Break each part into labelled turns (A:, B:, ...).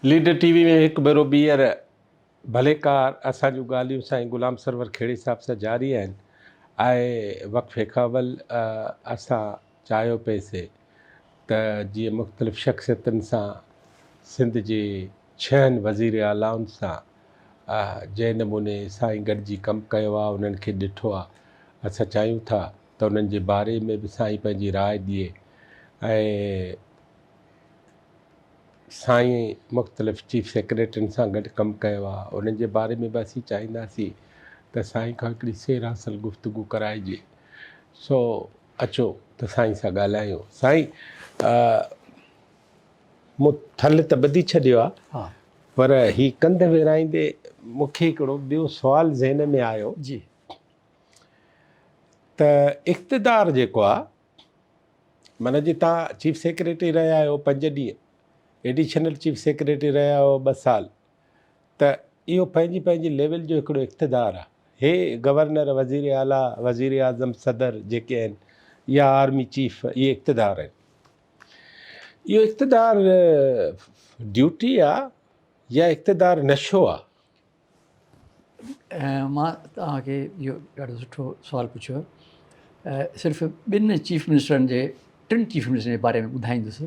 A: Leader TV وي ۾ هڪ ڀيرو ٻيهر ڀلي ڪار اسان جون ڳالهيون سائين غلام سرور کهڙي صاحب سان جاري آهن آء وقفي کان اول اسان چاهيو پئي سي ته جيئن مختلف شخصيتن سان سنڌ جي ڇهن وزير اعلائن سان جنهن نموني سائين گڏجي ڪم ڪيو آ انهن کي ڏٺو آ اسان چاهيون ٿا ته انهن جي باري ۾ به سائين پنهنجي راء ڏئي ۽ سائين مختلف چيف سيڪريٽرين سان گڏ ڪم ڪيو آهي انهن جي باري ۾ به اسين چاهينداسين ته سائين کان هڪڙي سير حاصل گفتگو ڪرائجي سو اچو ته سائين سان ڳالهايون سائين مون ٿل ته ٻڌي ڇڏيو آهي پر هي ڪنڌ ويرائيندي مونکي هڪڙو ٻيو سوال ذهن ۾ آيو جي ته اقتدار جيڪو آ معنيٰ جي تان چيف سيڪريٽري رهيا آهيو پنج ڏينهن ايڊيشنل چيف سيڪريٽري رهيا آهيو ٻه سال ته اهو پنهنجي پنهنجي ليول جو هڪڙو اقتدار آ هي گورنر وزير اعليٰ وزير اعظم صدر جيڪي آهن يا آرمي چيف اهي اقتدار آهن اهو اقتدار ڊيوٽي آ يا اقتدار نشو آ
B: مان توهان کي اهو ڏاڍو سٺو سوال پڇيو آهي صرف ٻن چيف منسٽرن جي ٽن چيف منسٽرن جي باري ۾ ٻڌائيندس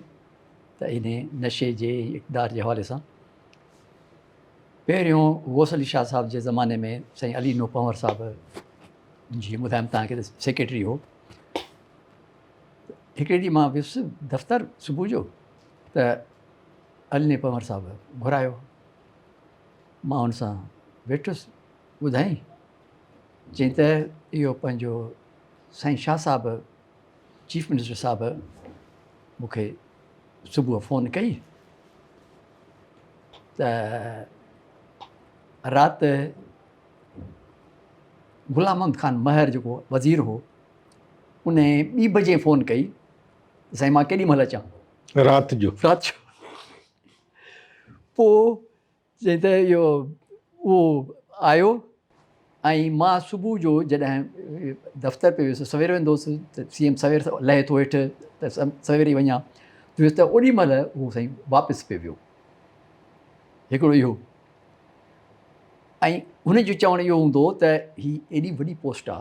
B: ته ان نشي جي اقدار جي حوالي سان پهريون غوث علي شاهه صاحب جي زماني ۾ سائين علي نو پنور صاحب جيئن ٻڌايم توهان کي سيڪريٽري هو هڪڙي ڏينهن مان ويس دفتر صبح جو ته علي نو پنور صاحب گهرايو مان هن سان ويٺس، ٻڌائين؟ چيائين ته اهو پنهنجو سائين شاهه صاحب چيف منسٽر صاحب مون کي صبح فون ڪئي ته رات غلام محمد خان مهر جيڪو وزير هو ان ٻي بجي فون ڪئي سائين مان ڪيڏي مهل اچان رات جو
A: رات جو
B: پوء جنهن ته اهو اهو آيو ۽ مان صبح جو جڏهن دفتر پي ويس سوير ويندو هوس ته سي ايم سوير لهي ٿو هيٺ ته سوير ئي وڃان ويس ته اوڏي مهل هو سائين واپس پي ويو هڪڙو اهو ۽ هن جو چوڻ اهو هوندو هو ته هي ايڏي وڏي پوسٽ آ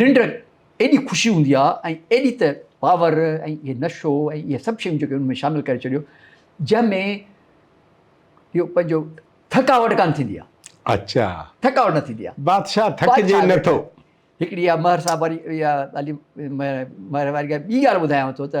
B: ننڊ ايڏي خوشي هوندي آ ۽ ايڏي ته پاور ۽ اهي نشو ۽ اهي سڀ شيون جيڪي ان ۾ شامل ڪري ڇڏيو جنهن ۾ اهو پنهنجو ٿڪاوٽ ڪان ٿيندي آ اچا
A: ٿڪاوٽ نه ٿيندي آ
B: بادشاهه ٿڪجي نه
A: ٿو هڪڙي اها مهر
B: صاحب واري اها مهر واري ڳالهه ٻي ڳالهه ٻڌايان ٿو ته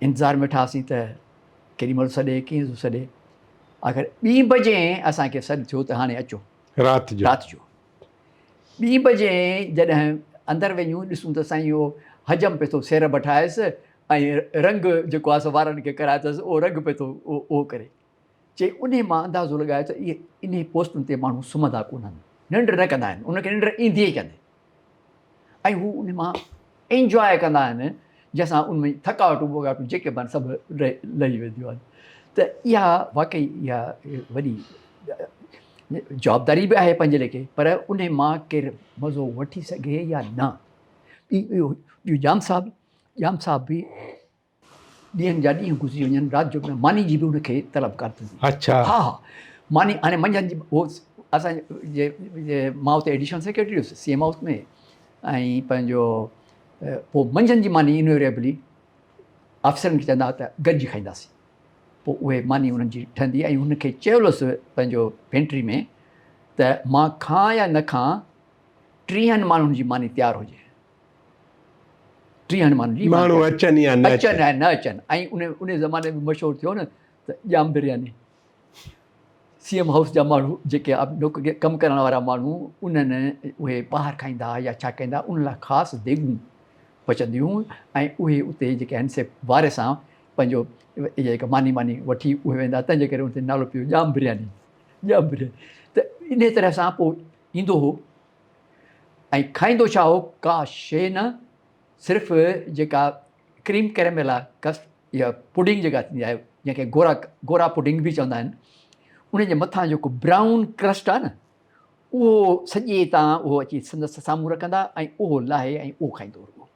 B: انتظار ۾ ويٺاسين ته ڪيڏي مھل سڏي ڪيئن ٿو سڏي آخر ٻي بجي اسان کي سڏ ٿيو ته ھاڻي اچو رات جو رات جو ٻي بجي جڏھن اندر وڃون ڏسون ته سائين اھو حجم پئي ٿو سير بٺائيس ۽ رنگ جيڪو آھي سو وارن کي ڪرائي اٿس اھو رنگ پئي ٿو اھو ڪري چي انهي مان اندازو لڳايو ته اهي انهي پوستن تي ماڻهو سمهندا ڪونهن، ننڊ نه ڪندا آهن، انهن کي ننڊ ايندي ئي ڪانهي ۽ هو انهي مان انجواء ڪندا آهن جنهن سان انهن جي ٿڪاوٽون ٻوڳاٽون جيڪي به آهن سڀ لهي وينديون آهن ته اها واقعي اها وڏي جوابداري به آهي پنهنجي ليکي پر انهي مان ڪير مزو وٺي سگهي يا نه ٻيو ڄام صاحب ڄام صاحب به ڏينهن جا ڏينهن گذري وڃن رات جو نه ماني جي به ان کي طلب ڪار ٿي اڇا ها ها ماني هاڻي منجهند جي هو اسان جي جي مان اتي ايڊيشنل سيڪريٽري هوس سي ايم هائوس ۾ ۽ پنهنجو پو منجهند جي ماني انويريبلي آفيسرن کي چوندا ته گڏجي کائينداسين پو اهي ماني انهن جي ٺهندي ۽ هن کي چيو هوس پنهنجو پينٽري ۾ ته مان کان يا نه کان ٽيهن ماڻهن جي ماني تيار هجي ٽيهن ماڻهن جي ماڻهو اچن يا نه اچن
A: يا نه اچن
B: ۽ ان ان زماني ۾ مشهور ٿيو نه ته ڄام برياني سی ايم هائوس جا ماڻهو جيڪي ڪم ڪرڻ وارا ماڻهو انهن اهي پاهر کائيندا هئا يا ڇا کائيندا ان لاء خاص ديڳون پچنديون هيون ۽ اهي اتي جيڪي آهن سي واري سان پنهنجو جيڪا ماني ماني وٺي اهي ويندا تنهن جي ڪري ان تي نالو پيو ڄام برياني ڄام برياني ته ان طرح سان پوء ايندو هو ۽ کائيندو ڇا هو ڪا شيء نه صرف جيڪا ڪريم ڪريميلا ڪسٽ يا پڊنگ جيڪا ٿيندي آهي جنهن کي گورا گورا پڊنگ به چوندا آهن ان جي مٿان جيڪو برائون ڪرسٽ آهي نه اهو سڄي تان اهو اچي سندس سامهون رکندا ۽ اهو لاهي ۽ اهو کائيندو هو.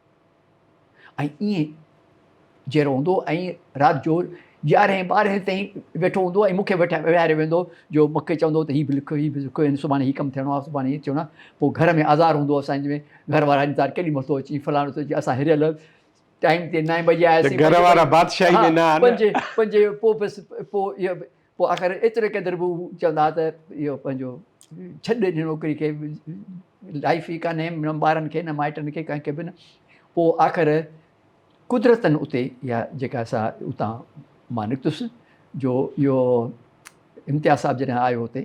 B: ۽ ائين جي رهندو ۽ رات جو يارهين ٻارهين تائين ويٺو هوندو ۽ مون کي ويهاري ويهندو جو مون کي چوندو ته هي به لک هي به لک ۽ سڀاڻي هي ڪم ٿيڻو آهي سڀاڻي هي ٿيڻو آهي پوء گهر ۾ آزار هوندو هو اسان جي گهر وارا انتظار ڪيڏي مهل ٿو اچين فلاڻو ٿو اچين اسان هريل ٽائيم تي نائين بجي آياسين گهر وارا بادشاهي
A: ۾ نه آهن پنج پنج پوء بس
B: پوء پوء آخر ايتري قدر به هو چوندا ها ته اهو پنهنجو ڇڏ هن نوڪري کي لائف ئي ڪانهي نه ٻارن کي نه مائٽن کي ڪنهن کي به نه پوء آخر قدرتن اتي اها جيڪا سا اتان مان نڪتس جو اهو امتياز صاحب جڏهن آيو هتي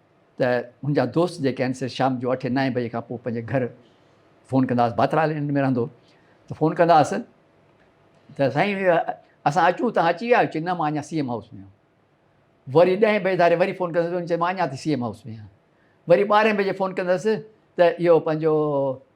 B: ته منهنجا دوست جيڪي آهن سي شام جو اٺين نائين بجي کان پوء پنهنجي گهر فون ڪندا هئس ڀاتر آئلينڊ ۾ رهندو هو ته فون ڪندا هئس ته سائين اسان اچون تان اچي ويا آهيو چي نه مان اڃا سي ايم هائوس ۾ آهيان وري ڏهين بجي ڌاري وري فون ڪندس چي مان اڃا تائين سي ايم هائوس ۾ آهيان وري ٻارهين بجي فون ڪندس ته اهو پنهنجو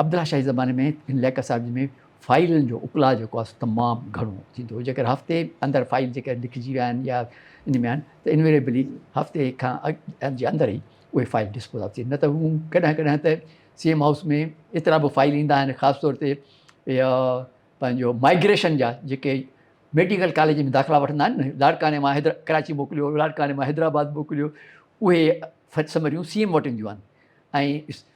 B: عبدالله شاهي زماني ۾ هن ليڪ اسائيمز ۾ فائيلن جو اڪلاء جيڪو آهي سو تمام گهڻو ٿيندو هو جيڪر هفتي اندر فائيل جيڪر لکجي ويا آهن يا ان ۾ آهن ته انويريبلي هفتي کان اڳ جي اندر ئي اهي فائيل ڊسپوز آف ٿين نه ته هو ڪڏهن ڪڏهن ته سي ايم هائوس ۾ ايترا به فائيل ايندا آهن خاص طور تي پنهنجو مائگريشن جا جيڪي ميڊيڪل ڪاليج ۾ داخلا وٺندا آهن نه لاڙڪاڻي مان حيدر ڪراچي موڪليو لاڙڪاڻي مان حيدرآباد موڪليو اهي سمريون سي ايم وٽ اينديون آهن ۽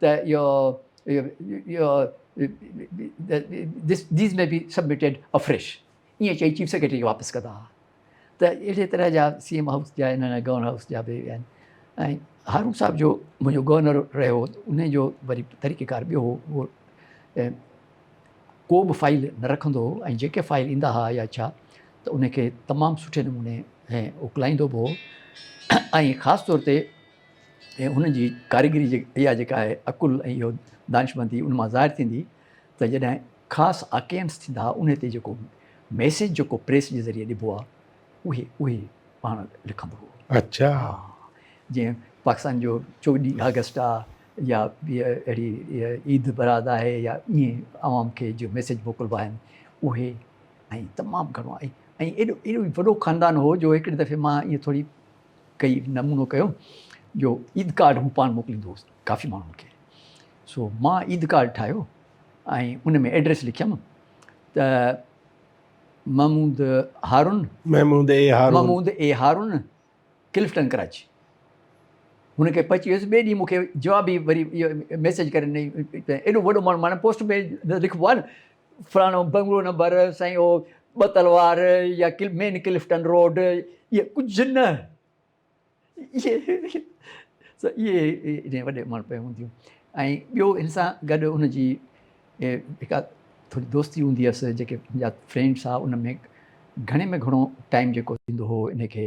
B: ته اهو These may be submitted afresh ائين چئي چيف سيڪريٽري کي واپس ڪندا ها ته اهڙي طرح جا سي ايم هائوس جا ان گورنر هائوس جا به آهن ۽ هارون صاحب جو منهنجو گورنر رهيو ان جو وري طريقه ڪار ٻيو هو هو ڪو به فائل نه رکندو هو ۽ جيڪي فائل ايندا ها يا ڇا ته ان کي تمام سٺي نموني ۽ اوڪلائيندو به هو ۽ خاص طور تي ۽ ان جي ڪاريگري اها جيڪا آهي عقل ۽ اهو دانشمندي ان مان ظاهر ٿيندي ته جڏهن خاص آڪيئنس ٿيندا انهي تي جيڪو ميسيج جيڪو پريس جي ذريعي ڏبو آهي اهي اهي پاڻ لکندو هو اڇا
A: جيئن
B: پاڪستان جو چوڏهين آگسٽ آهي يا اهڙي عيد براد آهي يا ائين عوام کي جو ميسيج موڪلبا آهن اهي ۽ تمام گهڻو ۽ ايڏو ايڏو وڏو خاندان هو جو هڪڙي دفعي مان ائين ٿوري ڪيئي نمونو ڪيو جو عيد ڪارڊ هو پاڻ موڪليندو هوس ڪافي ماڻهن کي سو مان عيد ڪارڊ ٺاهيو ۽ ان ۾ ايڊريس لکيم ته محمود هارون محمود اي هارون محمود اي هارون ڪلفٽن ڪراچي هن کي پهچي ويس ٻئي ڏينهن مونکي جواب ئي وري ميسج ڪري نه ايڏو وڏو ماڻهو معنی پوسٽ ۾ لکبو آهي نه فلاڻو بنگلو نمبر سائين اهو ٻه تلوار يا مين ڪلفٽن روڊ اهي ڪجهه نه اهي وڏي ماڻهو پيون هونديون ۽ ٻيو هن سان گڏ هن جي هڪ ٿوري دوستي هوندي هيس جيڪي جا فرينڊس هئا ان ۾ گهڻي ۾ گهڻو ٽائيم جيڪو ٿيندو هو ان کي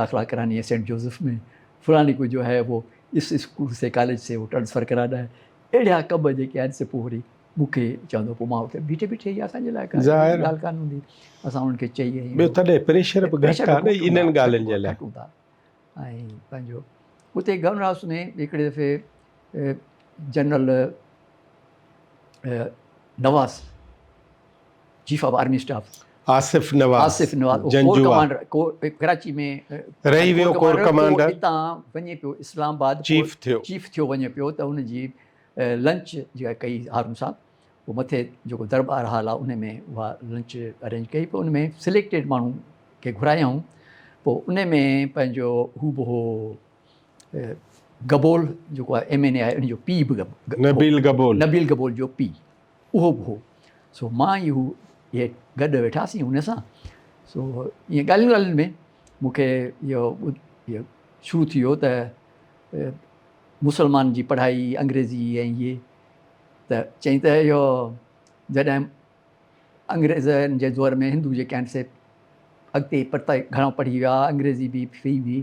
B: داخلا ڪراني هي سينٽ جوزف مين فلاني ڪو جو هي وو اس اسڪول سي ڪاليج سي وو ٽرانسفر ڪرا ڏا هي اهڙيا ڪم جيڪي آهن سي پوء وري مون کي چوندو پوء مان اتي بيٺي بيٺي اها اسان جي لاء ڪا ڳالهه ڪانه هوندي اسان انهن کي چئي ۽ ٻيو تڏهن پريشر
A: به گهٽ آهي نه انهن ڳالهين جي لاء گهٽون ٿا ۽
B: پنهنجو اتي گورنر هائوس ۾ هڪڙي دفعي general Nawaz chief of army staff Asif Nawaz Janjua رهي ويو ڪور
A: ڪمانڊر
B: چيف ٿيو چيف ٿيو وڃي پيو ته ان جي لنچ جيڪا ڪئي هارون صاحب هو مٿي جيڪو دربار هال آهي ان ۾ اها لنچ ارينج ڪئي پوء ان ۾ سليڪٽيڊ ماڻهو کي گهرايائون پوء ان ۾ پنهنجو هو به هو گبول جيڪو آهي ايم اين اي آهي ان جو پي به نبيل گبول نبيل گبول جو پي اهو به هو. سو مان ۽ هو اهي گڏ ويٺاسين هن سان. سو ائين ڳالهين ڳالهين ۾ مون کي اهو اهو شروع ٿي ويو ته مسلمانن جي پڙهائي انگريزي ۽ اهي ته چيائين ته اهو جڏهن انگريزن جي دور ۾ هندو جيڪي آهن سي اڳتي پرتئي گهڻو پڙهي ويا، انگريزي به فري هئي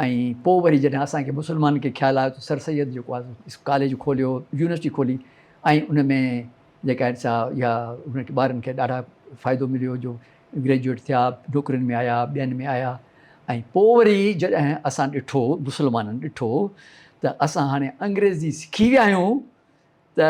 B: ۽ پوء وري جڏهن اسان کي مسلمانن کي خيال آيو ته سر سيد جيڪو آهي سو ڪاليج کوليو، يونيورسٽي کولي ۽ ان ۾ جيڪا آهن سا اها انهن کي ٻارن کي ڏاڍا فائدو مليو جو گريجوئيٽ ٿيا، نوڪرين ۾ آيا، ٻين ۾ آيا ۽ پوء وري جڏهن اسان ڏٺو، مسلمانن ڏٺو ته اسان هاڻي انگريزي سکي ويا آهيون ته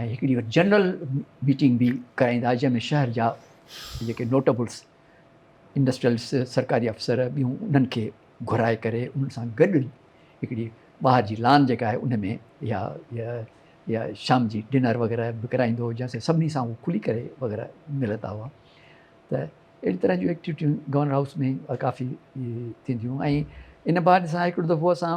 B: ۽ هڪڙي وٽ جنرل ميٽنگ به ڪرائيندا جنهن ۾ شهر جا جيڪي نوٽبلس انڊسٽريلس سرڪاري افسر ٻيون انهن کي گهرائي ڪري انهن سان گڏ هڪڙي ٻاهر جي لان جيڪا آهي ان ۾ يا يا شام جي ڊنر وغيرهه به ڪرائيندو هو جنهن سان سڀني سان هو کلي ڪري وغيرهه ملندا هئا ته اهڙي طرح جون ايڪٽيويٽيون گورنر هائوس ۾ ڪافي ٿينديون ۽ ان بعد سان هڪڙو دفعو اسان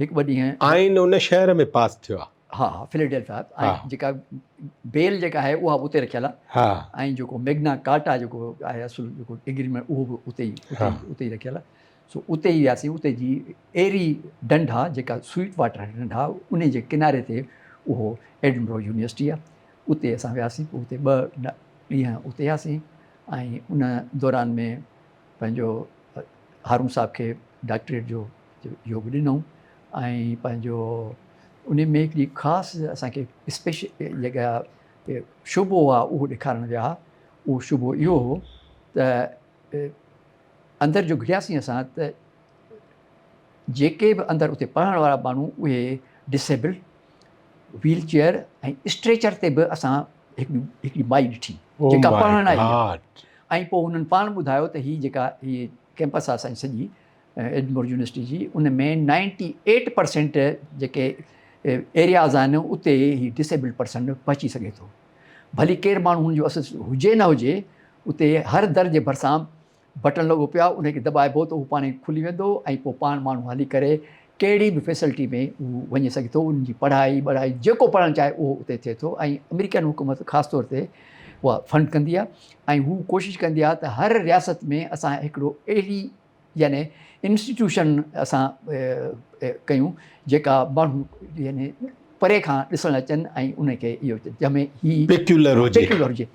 B: هڪ ٻه ڏينهن آئين ان شهر ۾
A: پاس ٿيو آهي. ها ها فليڊيلفيا ۽
B: جيڪا بيل جيڪا آهي اها اتي رکيل آهي ۽ جيڪو ميگنا ڪارٽا جيڪو آهي اصل جيڪو اگريمينٽ اهو به اتي ئي اتي ئي رکيل آهي سو اتي ئي وياسي اتي جي ايري ڊنڊا جيڪا سوئيٽ واٽر ڊنڊا ان جي ڪناري تي اهو ايڊنبرو يونيورسٽي آهي اتي اسان وياسي اتي ٻه ڏينهن اتي هياسي ۽ ان دوران ۾ پنهنجو هارون صاحب کي ڊاڪٽريٽ جو يوگ ڏنو ۽ پنهنجو ان ۾ هڪڙي خاص اسان کي اسپيشل جيڪا شعبو هو اهو ڏيکارڻ ويا هئا اهو شعبو اهو هو ته اندر جو گهڙياسين اسان ته جيڪي به اندر اتي پڙهڻ وارا ماڻهو اهي ڊسيبل ويل چيئر ۽ اسٽريچر تي به اسان هڪڙي مائي ڏٺي جيڪا پڙهڻ آئي ۽ پوء هنن پاڻ ٻڌايو ته هي جيڪا هي ڪيمپس آهي اسان جي سڄي ايڊمور يونيورسٽي جي ان ۾ نائنٽي ايٽ پرسينٽ جيڪي ايرياز آهن اتي هي ڊسيبلڊ پرسن پهچي سگهي ٿو ڀلي ڪير ماڻهو هن جو اسس هجي نه هجي اتي هر در جي ڀرسان بٽڻ لڳو پيو انهي کي دٻائبو ته اهو پاڻهي کلي ويندو ۽ پوء پاڻ ماڻهو هلي ڪري ڪهڙي به فيسلٽي ۾ هو وڃي سگهي ٿو انهن جي پڙهائي ٻڙهائي جيڪو پڙهڻ چاهي اهو اتي ٿئي ٿو ۽ آمريڪن حڪومت خاص طور تي اها فنڊ ڪندي آهي ۽ هو ڪوشش ڪندي آهي ته هر رياست ۾ اسان هڪڙو اهڙي يعني انسٽيٽيوشن اسان ڪيون جيڪا ماڻهو يعني پري کان ڏسڻ اچن ۽ انهن کي اهو جنهن ۾ هي پيڪيولر هجي پيڪيولر هجي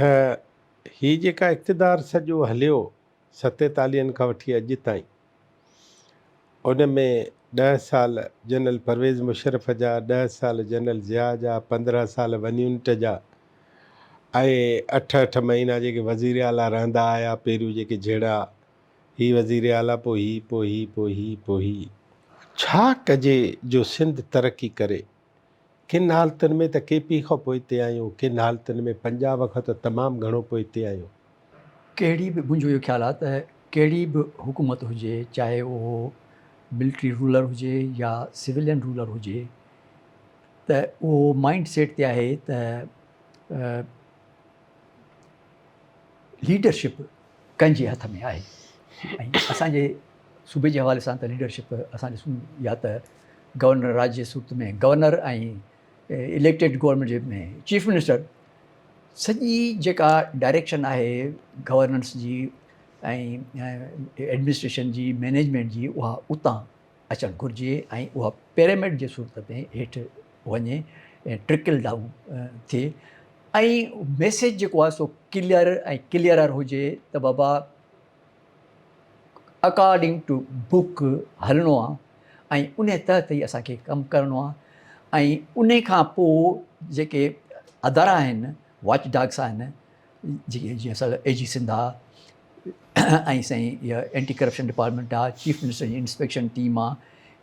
A: ته هي جيڪا اقتدار سڄو هليو ستيتاليهن کان وٺي اڄ تائين ان ۾ ڏهه سال جنرل پرويز مشرف جا، ڏهه سال جنرل ضياء جا، پندرهن سال ون يونٽ جا ۽ اٺ اٺ مهينا جيڪي وزير اعليٰ رهندا آيا پهريون جيڪي جهيڙا هي وزير اعليٰ پوء هي پوء هي پوء هي پوء هي. ڇا ڪجي جو سنڌ ترقي ڪري. ڪن حالتن ۾ ته ڪي پي کان پوئتي آهيون، ڪن حالتن ۾ پنجاب کان ته تمام گهڻو پوئتي آهيون. ڪهڙي
B: به منهنجو اهو خيال آهي ته ڪهڙي به حڪومت هجي چاهي اهو ملٽري رولر هجي يا سولين رولر هجي ته اهو مائنڊ سيٽ تي آهي ته ليڊرشپ ڪنهن جي هٿ ۾ آهي ۽ اسان جي صوبي جي حوالي سان ته ليڊرشپ اسان ڏسون يا ته گورنر راڄ جي صورت ۾ گورنر ۽ اليڪٽيڊ گورنمينٽ جي ۾ چيف منسٽر سڄي جيڪا ڊائريڪشن آهي گورننس جي ۽ ايڊمنسٽريشن جي مينيجمينٽ جي اها اتان اچڻ گهرجي ۽ اها پيرامڊ جي صورت ۾ هيٺ وڃي ٽرڪل ڊائون ٿئي ۽ ميسيج جيڪو آهي سو ڪليئر ۽ ڪليئرر هجي ته بابا اڪارڊنگ ٽو بک هلڻو آهي ۽ ان تحت ئي اسان کي ڪم ڪرڻو آهي ۽ ان کان پوء جيڪي ادارا آهن واچ ڊاگس آهن جيئن جيئن سر اي جي سنڌ آ ۽ سائين اها اينٽي ڪرپشن ڊپارٽمينٽ آ چيف منسٽر جي انسپيڪشن ٽيم آ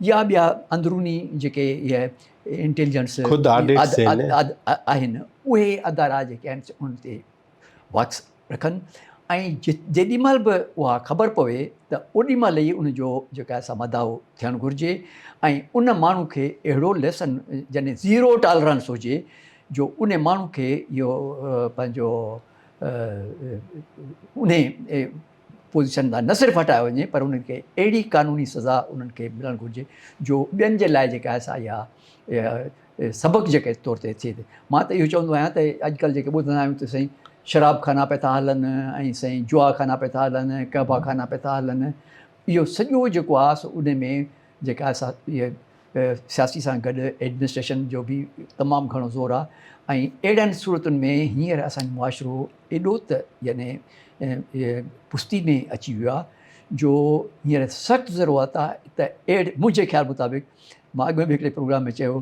B: يا ٻيا اندروني جيڪي اهي انٽيليجنس خود آڊٽ سيل
A: آهن
B: اهي ادارا جيڪي آهن ان تي واڪس رکن ۽ جيڏي مهل به اها خبر پوي ته اوڏي مهل ئي ان جو جيڪا سا مداو ٿيڻ گهرجي ۽ ان ماڻهو کي اهڙو ليسن يعني زيرو ٽالرنس هجي جو انهي ماڻهو کي اهو پنهنجو انهي پوزيشن تان نه صرف هٽايو وڃي پر انهن کي اهڙي قانوني سزا انهن کي ملڻ گهرجي جو ٻين جي لاء جيڪا آهي سا اها سبق جيڪي طور تي ٿئي مان ته اهو چوندو آهيان ته اڄڪلهه جيڪي ٻڌندا آهيون ته سائين شراب خانا پئي ٿا هلن ۽ سائين جوا خانا پئي ٿا هلن قهبا خانا پئي ٿا هلن اهو سڄو جيڪو آهي سو انهي ۾ جيڪا آهي سا سياسي سان گڏ ايڊمنسٽريشن جو به تمام گهڻو زور آهي ۽ اهڙين صورتن ۾ هينئر اسان جو معاشرو ايڏو ته يعني پستي ۾ اچي ويو آهي جو هينئر سخت ضرورت آهي ته اهڙي منهنجي خيال مطابق مان اڳ ۾ به هڪڙي پروگرام ۾ چيو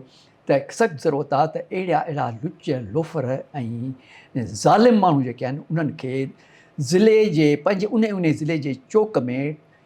B: ته سخت ضرورت آهي ته اهڙا اهڙا لچ لوفر ۽ ظالم ماڻهو جيڪي آهن انهن کي ضلعي جي پنهنجي انهي انهي ضلعي جي چوڪ ۾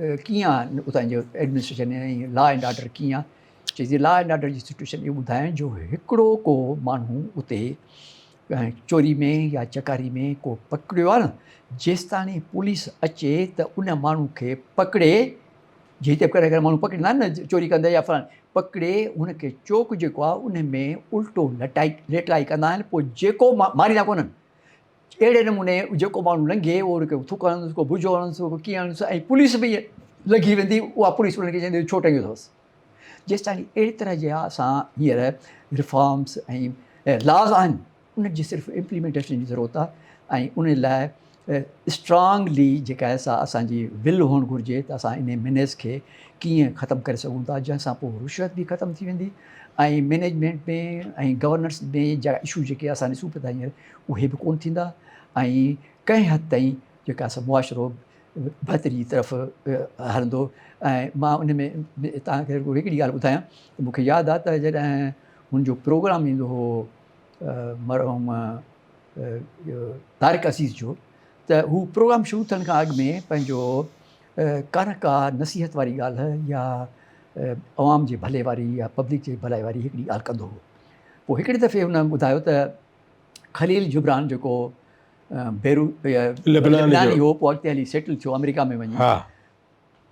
B: ڪيئن آهن اتان جو ايڊمنسٽريشن ۽ لا اينڊ آرڊر ڪيئن آهي چي جي لا اينڊ آرڊر جي سچويشن اهو ٻڌائين جو هڪڙو ڪو ماڻهو اتي چوري ۾ يا چڪاري ۾ ڪو پڪڙيو آهي نه جيستاڻي پوليس اچي ته ان ماڻهو کي پڪڙي جي هتي ڪهڙا ڪهڙا ماڻهو پڪڙيندا آهن نه چوري ڪندي يا فلان پڪڙي ان کي چوڪ جيڪو آهي ان ۾ الٽو لٽائي ليٽائي ڪندا آهن پوء جيڪو ماريندا ڪونهن اهڙي نموني جيڪو ماڻهو لنگهي اهو ان کي ٿڪ هڻندس ڪو بجو هڻندس ڪو ڪيئن هڻندس ۽ پوليس به لنگهي ويندي اها پوليس انهن کي چوندي ڇو ٽنگيو اٿس جيستائين اهڙي طرح جي اسان هينئر ريفارمس ۽ لاز آهن انهن جي صرف امپليمنٽيشن جي ضرورت آهي ۽ ان لاء اسٽرانگلي جيڪا آهي سا اسان جي ول هئڻ گهرجي ته اسان ان مينيز کي ڪيئن ختم ڪري سگهون ٿا جنهن سان پوء رشوت به ختم ٿي ويندي ۽ مينيجمنٽ ۾ ۽ گورننس ۾ جا اشو جيڪي اسان ڏسون پيا ته هينئر اهي به ڪونه ٿيندا ۽ ڪنهن حد تائين جيڪا سا معاشرو بهتري جي طرف هلندو ۽ مان ان ۾ تان کي رڳو هڪڙي ڳالهه ٻڌايان ته مون کي ياد آ ته جڏهن هن جو پروگرام ايندو هو مرحوم طارق عزيز جو ته هو پروگرام شروع ٿيڻ کان اڳ ۾ پنهنجو ڪانه ڪا نصيحت واري ڳالهه يا عوام جي ڀلي واري يا پبلڪ جي ڀلائي واري هڪڙي ڳالهه ڪندو هو پوء هڪڙي دفعي هن ٻڌايو ته خليل جبران جيڪو بيروت لبناني هو پوء اڳتي هلي سيٽل ٿيو آمريڪا ۾ وڃي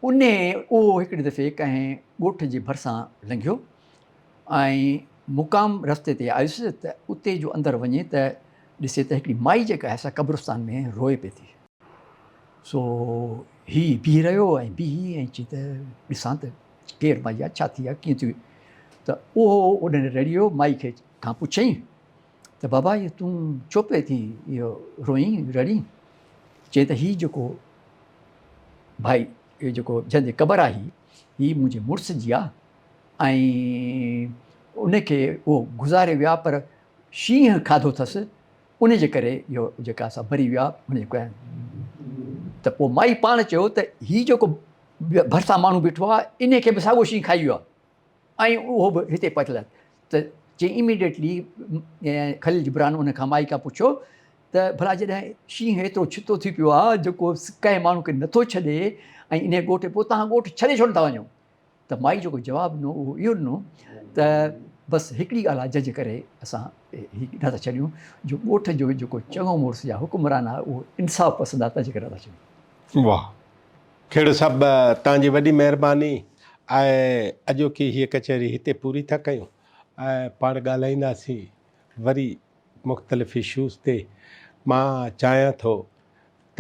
B: ان اهو هڪڙي دفعي ڪنهن ڳوٺ جي ڀرسان لنگهيو ۽ مقام رستي تي آيس ته اتي جو اندر وڃي ته ڏسي ته هڪڙي مائي جيڪا آهي سا قبرستان ۾ روئي پئي ٿي سو هي بيهي رهيو ۽ بيهي ۽ چي ته ڏسان ته ڪير مائي آهي ڇا ٿي آهي ڪيئن ٿي ته اهو اوڏانهن رڙيو مائي کي کان پڇيائين ته بابا اهو تون ڇو پئي ٿي اهو روئين رڙين؟ چيائين ته هي جيڪو ڀائي اهو جيڪو جنهن جي قبر آهي هي منهنجي مڙس جي آ ۽ ان کي اهو گذاري ويا پر شينهن کاڌو اٿس ان جي ڪري اهو جيڪا اسان مري ويا ان جي ڪري ته پوء مائي پاڻ چيو ته هي جيڪو ڀرسان ماڻهو بيٺو آ ان کي به ساڳيو شينهن کائي ويو آ. ۽ اهو به هتي پتل آهي ته چيائين اميڊيٽلي خليل جبران ان کان مائيڪا پڇيو ته ڀلا جڏهن شينهن ايترو ڇتو ٿي پيو آهي جو ڪو ڪنهن ماڻهو کي نٿو ڇڏي ۽ انهي ڳوٺ پوء توهان ڳوٺ ڇڏي ڇو نٿا وڃو ته مائي جيڪو جواب ڏنو اهو اهو ڏنو ته بس هڪڙي ڳالهه آهي جنهنجي ڪري اسان هي نٿا ڇڏيون جو ڳوٺ جو جيڪو چڱو مڙس يا حڪمران آهي اهو انصاف پسند آهي تنهنجي ڪري نٿا ڇڏيون. واھ.
A: کهڙو صاحب توهان جي وڏي مهرباني آهي اڄوڪي هيء ڪچهري هتي پوري ٿا ڪيون ۽ پاڻ ڳالهائينداسين وري مختلف اشوز تي مان چاهيان ٿو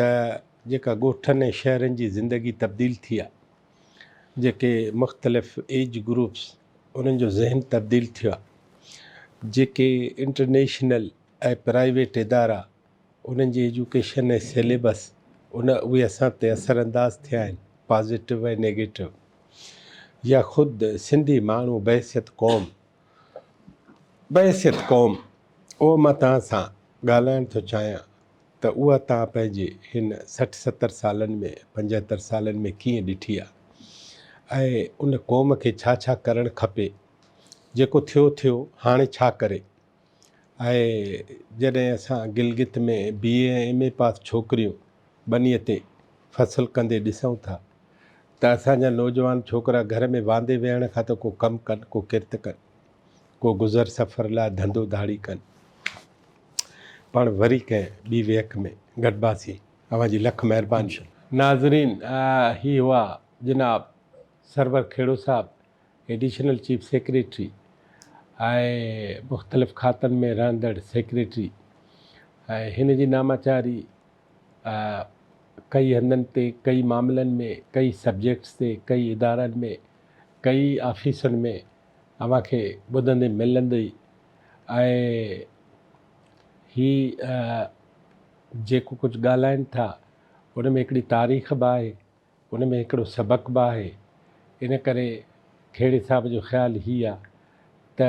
A: ته جيڪا ڳوٺن ۽ شهرن جي زندگي تبديل ٿي آهي جيڪي مختلف ايج گروپس انهن جو ذهن تبديل ٿيو آهي جيڪي انٽرنيشنل ۽ پرائيويٽ ادارا انهن جي ايجوڪيشن ۽ سيليبس ان اهي اسان تي اثر انداز ٿيا آهن پازيٽو ۽ نيگيٽو يا خود سنڌي ماڻهو بحيثيت قوم بحيثيت قوم اهو مان توهان سان ڳالهائڻ ٿو چاهيان ته اها توهان پنهنجي هن سٺ ستر سالن ۾ پنجهتر سالن ۾ ڪيئن ڏٺي آهي ۽ ان قوم کي ڇا ڇا ڪرڻ کپي جيڪو ٿيو ٿيو هاڻي ڇا ڪري آهي جڏهن اسان گلگت ۾ بي اي ۽ ايم اي پاس ڇوڪريون ٻنيء تي فصل ڪندي ڏسون ٿا ته اسان جا نوجوان ڇوڪرا گهر ۾ واندي ويهڻ کان ته ڪو ڪم ڪن ڪو ڪرت ڪن ڪو گذر سفر لاء ڌنڌو ڌاڙي ڪن پاڻ وري ڪنهن ٻي ويهڪ ۾ گڏباسي اوهان جي لک مهرباني ناظرين هي هئا جناب Sarwar Khuhro Sahib additional chief secretary ۽ مختلف کاتن ۾ رهندڙ سيڪريٽري ۽ هن جي ناماچاري ڪئي هنڌن تي ڪئي معاملن ۾ ڪئي سبجيڪٽس تي ڪئي ادارن ۾ ڪئي آفيسن ۾ اوهان کي ٻڌندي ملندي ۽ هي جيڪو ڪجهه ڳالهائين ٿا ان ۾ هڪڙي تاريخ به آهي ان ۾ هڪڙو سبق به آهي. ان ڪري کهڙي صاحب جو خيال هي آ ته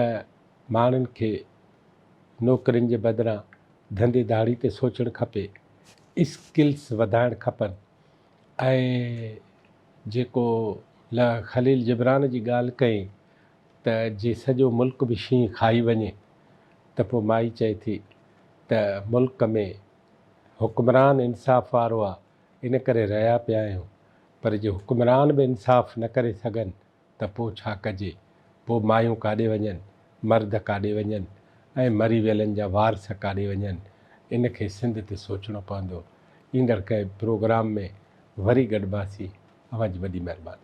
A: ماڻهن کي نوڪرين جي بدران ڌنڌي ڌاڙي تي سوچڻ کپي، اسڪلس وڌائڻ کپن ۽ جيڪو ل خليل جبران جي ڳالهه ڪئين ته جي سڄو ملڪ به شينهن کائي وڃي ته پوء مائي چئي ٿي ته ملڪ ۾ حڪمران انصاف وارو آ ان ڪري رهيا پيا آهيون، پر جي حڪمران به انصاف نه ڪري سگهن ته پوء ڇا ڪجي؟ پوء مايون ڪاڏي وڃن، مرد ڪاڏي وڃن ۽ مري ويلن جا وارث ڪاڏي وڃن؟ ان کي سنڌ تي سوچڻو پوندو. ايندڙ ڪنهن پروگرام ۾ وري گڏباسين. اوهان جي وڏي مهرباني.